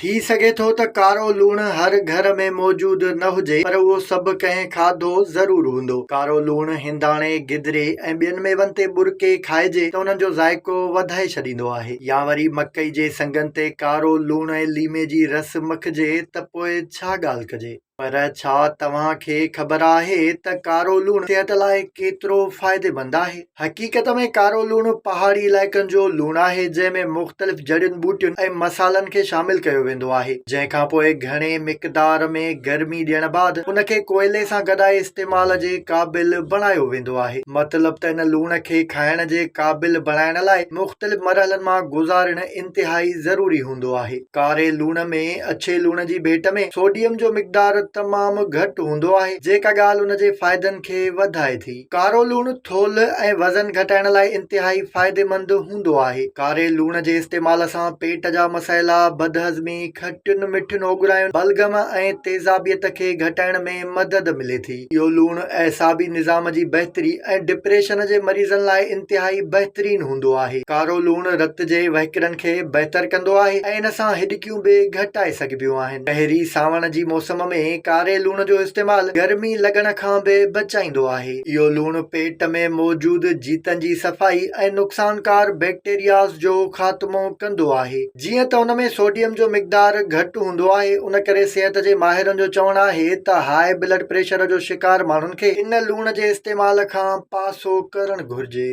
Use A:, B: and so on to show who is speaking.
A: ٿي سگهي ٿو ته ڪارو لوڻ هر گهر ۾ موجود نه هجي پر اهو سڀ ڪنهن کاڌو ضرور هوندو. ڪارو لوڻ هنداڻي، گدري ۽ ٻين ميون تي ٻرڪي کائجي ته انهن جو ذائقو وڌائي ڇڏيندو آهي. يا وري مڪئي جي سنگن تي ڪارو لوڻ ۽ ليمي جي رس مکجي ته پوء ڇا ڳالهه ڪجي. پر ڇا توهان کي خبر آهي ته ڪارو لوڻ صحت لاء ڪيترو فائديمند آهي؟ حقيقت ۾ ڪارو لوڻ پهاڙي علائقن جو لوڻ آهي جنهن ۾ مختلف جڙين ٻوٽين ۽ مصالحن کي شامل ڪيو ويندو آهي جنهن کان پوء گهڻي مقدار ۾ گرمي ڏيڻ بعد ان کي ڪوئلي سان گڏائي استعمال جي قابل بڻايو ويندو آهي. مطلب ته ان لوڻ کي کائڻ جي قابل بڻائڻ لاء مختلف مرحلن مان گذارڻ انتهائي ضروري هوندو آهي. ڪاري لوڻ ۾ اڇي لوڻ جي ڀيٽ ۾ سوڊيم جو مقدار تمام گهٽ هوندو آهي، جيڪا ڳالهه ان جي فائدن کي وڌائي ٿي. ڪارو لوڻ ٿولهه ۽ وزن گهٽائڻ لاء انتهائي فائديمند هوندو آهي. ڪاري لوڻ جي استعمال سان پيٽ جا مسئلا، بدهضمي، کٽين مٺين اوڳراين، بلغم ۽ تيزابيت کي گهٽائڻ ۾ مدد ملي ٿي. اهو لوڻ اعصابي نظام جي بهتري ۽ ڊپريشن جي مريضن لاء انتهائي بهترين هوندو آهي. ڪارو لوڻ رت جي وهڪرن کي بهتر ڪندو آهي ۽ ان سان هڏڪيون به گهٽائي سگهبيون آهن. پهرين سانوڻ جي موسم ۾ ڪاري لوڻ جو استعمال گرمي لڳڻ کان به بچائيندو آهي. اهو لوڻ پيٽ ۾ موجود جيتن جي صفائي ۽ نقصانڪار بيڪٽيرياز جو خاتمو ڪندو آهي. جيئن ته ان ۾ سوڊيم جو مقدار گهٽ هوندو آهي ان ڪري صحت جي ماهرن جو چوڻ آهي ته هاء بلڊ پريشر جو شڪار ماڻهن کي ان لوڻ جي استعمال کان پاسو ڪرڻ گهرجي.